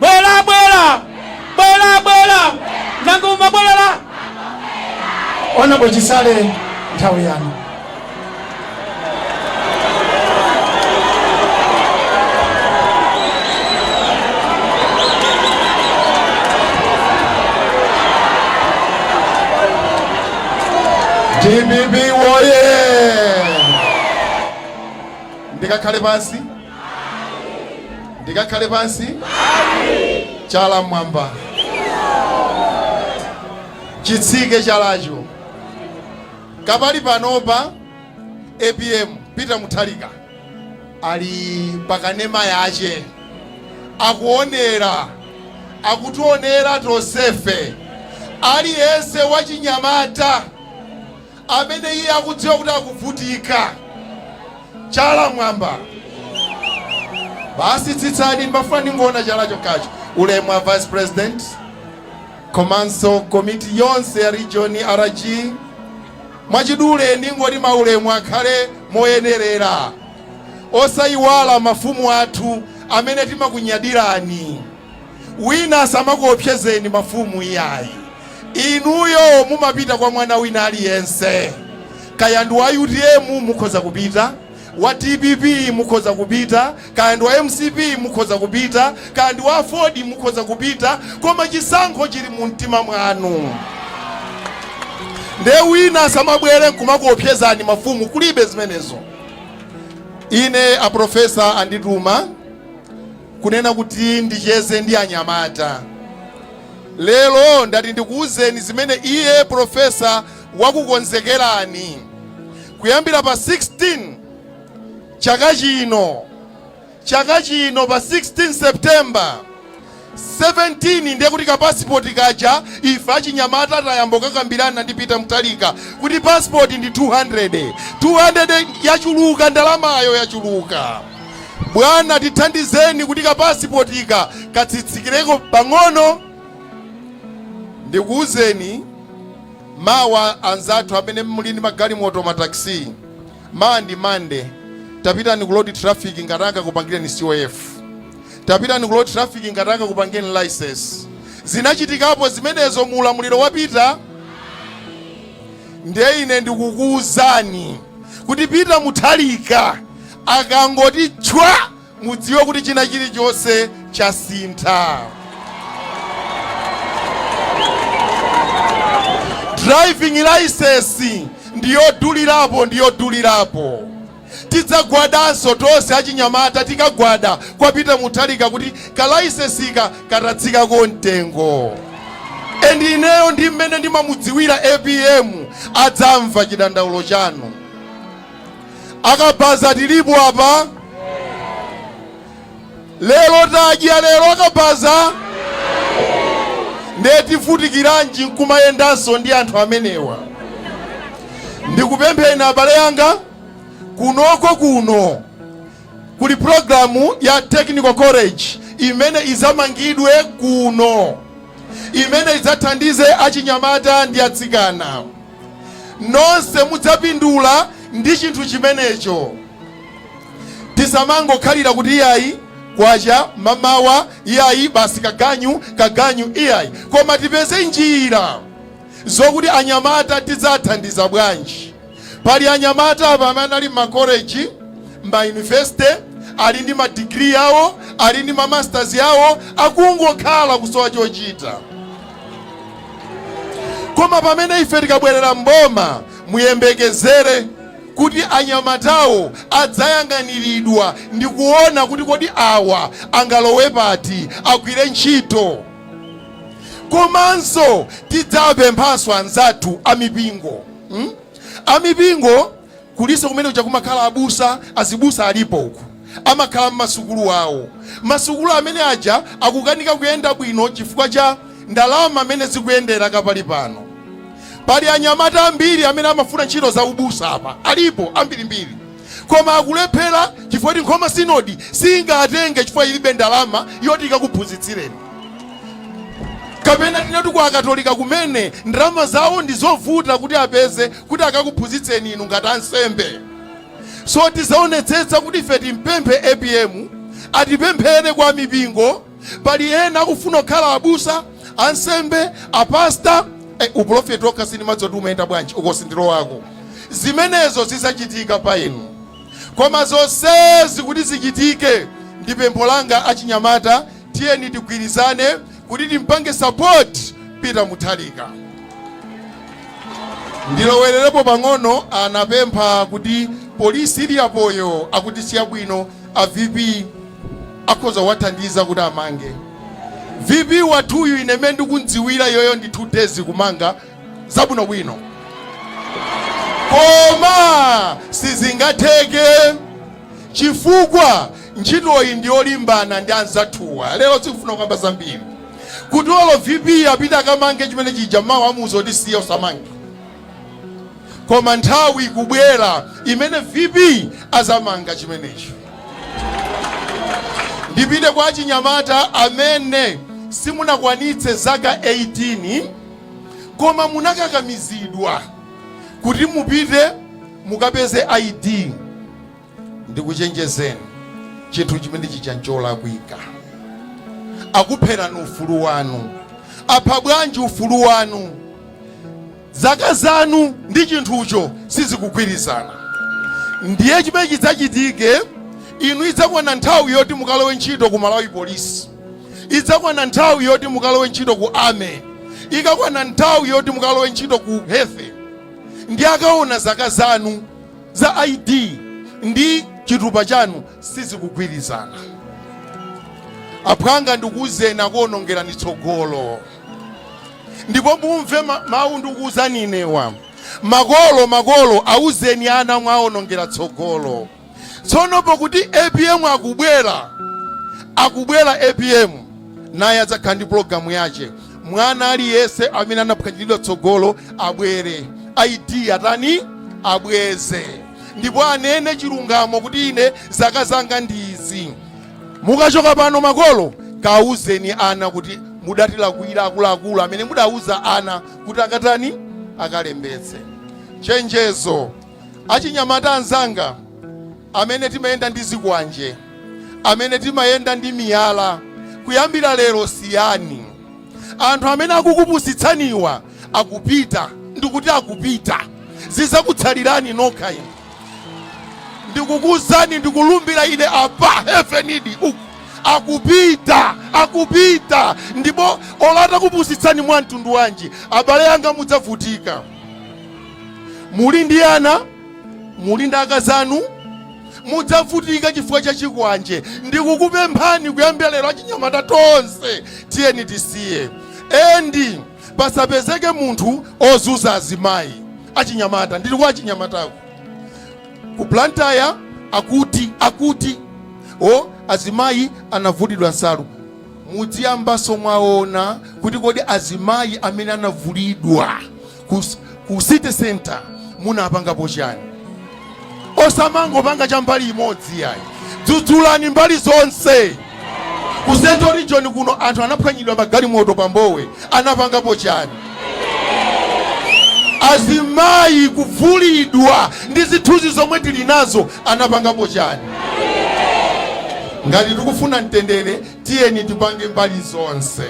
bwera bwera bwera bwera nanga mumabwerera Honourable Chisale nthawi yanu dpp woye ndikakhale pansi Ndikakhale pansi? Chala m'mwamba. Chitsike chalacho. Kapali panopa apm Peter Mutharika ali pakanema yache akuonera akutionera tosefe aliyense wachinyamata amene iye akudziwa kuti akuvutika. Chala mwamba. Basi tsitsani, ndimafuna ndingoona chala chokhacho. Ulemu wa Vice President komanso komiti yonse ya region RG, mwachidule ndingoti maulemu akhale moyenerera, osayiwala mafumu athu amene timakunyadirani. Wina asamakuopsezeni mafumu iyayi. Inuyo mumapita kwa mwana wina aliyense. Kaya ndi wa utm mukhoza kupita, wa dpp mukhoza kupita, kaya ndi wa mcp mukhoza kupita, kaya ndi wa aford mukhoza kupita, koma chisankho chili mu mtima mwanu. Nde wina asamabwere nkumakuopsezani mafumu, kulibe zimenezo. Ine a professor andituma kunena kuti ndicheze ndi anyamata. Lero ndati ndikuuzeni zimene iye Professor wakukonzekerani. Kuyambira pa 16 chaka chino, chaka chino pa 16 September 17 ndiye kuti ka passport kaja ife achinyamata tayamba kukambirana ndi Peter Mutharika kuti passport ndi 200 200 yachuluka ndalamayo yachuluka Bwana tithandizeni kuti ka pasipotika katsitsikireko pang'ono. Ndikuwuzeni mawa anzathu amene muli ndi magalimoto mataxi, mawa ndi Monday, tapitani ku road traffic ngati angakupangireni COF, tapitani ku road traffic ngati angakupangireni license. Zinachitikapo zimenezo mu ulamuliro wapita, ndiye ine ndikukuwuzani kuti Peter Mutharika Akangoti tchwa! Mudziwe kuti china chilichonse chasintha. Driving licence ndiyodulirapo ndiyodulirapo. Tidzagwadanso tonse achinyamata tikagwada kwa Peter Mutharika kuti ka licence ka katatsikako mtengo. And ineyo ndi mmene ndimamudziwira apm adzamva chidandaulo chanu. akabaza tilipo apa lero tadya lero akabaza ndiye tivutikiranji nkumayendanso ndi anthu amenewa ndikupempheni abale yanga kunoko kuno kuli programu ya technical college imene izamangidwe kuno imene idzathandize achinyamata ndi atsikana Nonse mudzapindula ndi chinthu chimenecho. Tisamangokhalira kuti iyayi kwacha mamawa iyayi basi kaganyu kaganyu iyayi koma tipeze njira zokuti anyamata tidzathandiza bwanji. Pali anyamata apa amene anali mmakoleji, mmayunivesite ali ndi madigiri awo ali ndi ma masters awo akungokhala kusowa chochita. koma pamene ife tikabwerera mboma muyembekezere kuti anyamatawo adzayang'aniridwa ndi kuona kuti kodi awa angalowe pati agwire ntchito komanso tidzapemphanso anzathu amipingo hmm? amipingo Kulinso kumene kuja kumakhala abusa azibusa alipo uku amakhala mmasukulu awo masukulu amene aja akukanika kuyenda bwino chifukwa cha ndalama mene zikuyendera kapali pano pali anyamata ambiri amene amafuna ntchito za ubusa apa alipo ambirimbiri koma akulephera chifukwa choti Nkhoma sinodi siingatenge chifukwa ilibe ndalama yoti ikakuphunzitsireni kapena tinati kwa akatolika kumene ndalama zawo ndizovuta kuti apeze kuti akakuphunzitseni inu ngati ansembe so tizaonetsetsa kuti ife timpemphe apm atipemphere kwa mipingo pali ena akufuna kukhala abusa ansembe apasta eh, uprofeti okha sindimadziwa kuti umayenda bwanji uko sindilowako zimenezo zizachitika pa inu koma zonsezi kuti zichitike ndi pempho langa achinyamata Tiyeni tigwirizane kuti timpange support Peter Mutharika. Ndilowererepo pang'ono anapempha kuti polisi ili apoyo akuti siyabwino a VP akhoza kuwathandiza kuti amange. VP wathuyu ine mmene ndikumdziwira iyoyo ndi 2 days kumanga zabwinobwino koma sizingatheke chifukwa ntchitoyi ndi yolimbana ndi anzathuwa lero sikufuna kukamba zambiri kuti olo vp apite akamange chimene chija mawu amuuza kuti siya usamange koma nthawi ikubwera imene vp azamanga chimenecho ndipite kwa achinyamata amene simunakwanitse zaka 18 koma munakakamizidwa kuti mupite mukapeze id ndikuchenjezeni chinthu chimene chija ncholakwika akupherani ufulu wanu apha bwanji ufulu wanu zaka zanu ndi chinthucho sizikugwirizana ndiye chimene chidzachitike inu idzakwana nthawi yoti mukalowe ntchito ku malawi police idzakwana nthawi yoti mukalowe ntchito ku army ikakwana nthawi yoti mukalowe ntchito ku health ndi akaona zaka zanu za id ndi chitupa chanu sizikugwirizana aphwanga ndikuwuzeni akuonongerani tsogolo ndipo mumve mawu ndikuwuzani inewa makolo makolo awuzeni ana mwaonongera tsogolo tsono pokuti apm akubwera akubwera apm naye adzakhala ndi pologalamu yache mwana aliyense amene anaphwanyiridwa tsogolo abweze id atani abweze ndipo anene chilungamo kuti ine zaka zanga ndi izi mukachoka pano makolo kauzeni ana kuti mudatilakwira akuluakulu amene mudauza ana kuti akatani akalembetse chenjezo Achinyamata anzanga, amene timayenda ndi zikwanje, amene timayenda ndi miyala, kuyambira lero siyani. Anthu amene akukupusitsaniwa akupita, ndikuti akupita. Zizakutsalirani nokha inu. Ndikukuuzani, ndikulumbira ine apa, heavenidi uku, akupita, akupita. Ndipo olo atakupusitsani mwa mtundu wanji, abale anga, mudzavutika. muli ndi ana muli ndi akazanu mudzavutika chifukwa cha chikwanje ndikukupemphani kuyambira lero achinyamata tonse tiyeni tisiye endi pasapezeke munthu ozuza azimayi achinyamata ndili kwa achinyamatako ku blantyre akuti akuti oh azimayi anavulidwa nsalu mudziyambanso mwaona kuti kodi azimayi amene anavulidwa ku, ku city center munapangapo chani osamangopanga cha mbali imodzi yayi dzudzulani mbali zonse ku central region kuno anthu anaphwanyidwa magalimoto pa Mbowe anapangapo chani azimayi kuvulidwa ndi zithunzi zomwe tili nazo anapangapo chani ngati tikufuna mtendere tiyeni tipange mbali zonse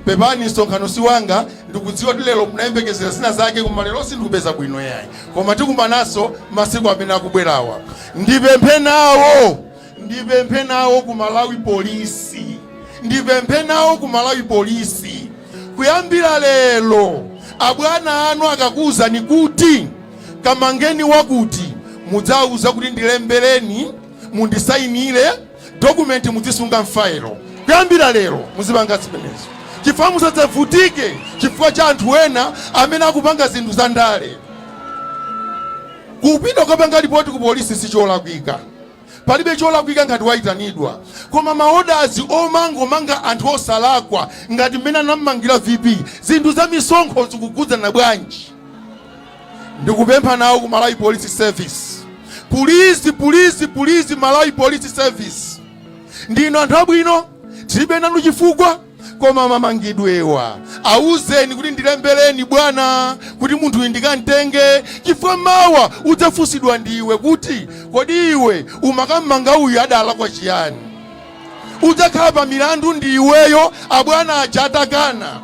Pepani, msonkhano si wanga. Ndikudziwa kuti lero munayembekezera zina zake, koma lero sindikupeza bwino yayi, koma tikumananso masiku amene akubwerawa. Ndipemphe nawo, ndipemphe nawo ku Malawi polisi, ndipemphe nawo ku Malawi polisi. Kuyambira lero abwana anu akakuwuzani kuti kamangeni wakuti, mudzawauza kuti ndilembereni, mundisayinire dokumenti mudzisunga m'fayilo kuyambira lero muzipanga zimenezo chifukwa musadzavutike chifukwa cha anthu ena amene akupanga zinthu za ndale kupita kukapanga lipoti ku polisi sicholakwika palibe cholakwika ngati wayitanidwa koma maodazi omangamanga anthu osalakwa ngati mmene anammangira vp zinthu za misonkho zikukhudzana bwanji Ndikupempha nawo ku Malawi Police Service pulizi pulizi pulizi Malawi Police Service ndinu anthu abwino tilibe nanu chifukwa koma mamangidwewa awuzeni kuti ndilembereni bwana kuti munthu uyu ndikamtenge chifukwa mawa udzafunsidwa ndiwe kuti kodi iwe umakammanga uyu adalakwa chiyani udzakhala pa milandu ndi iweyo abwana aja atakana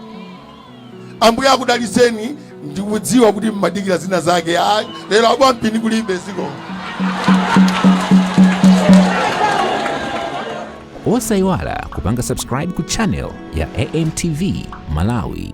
Ambuye akudalitseni ndikudziwa kuti mmadikira zina zake ayi lero abakampini kulibe ziko osayiwala kupanga subscribe ku channel ya amtv malawi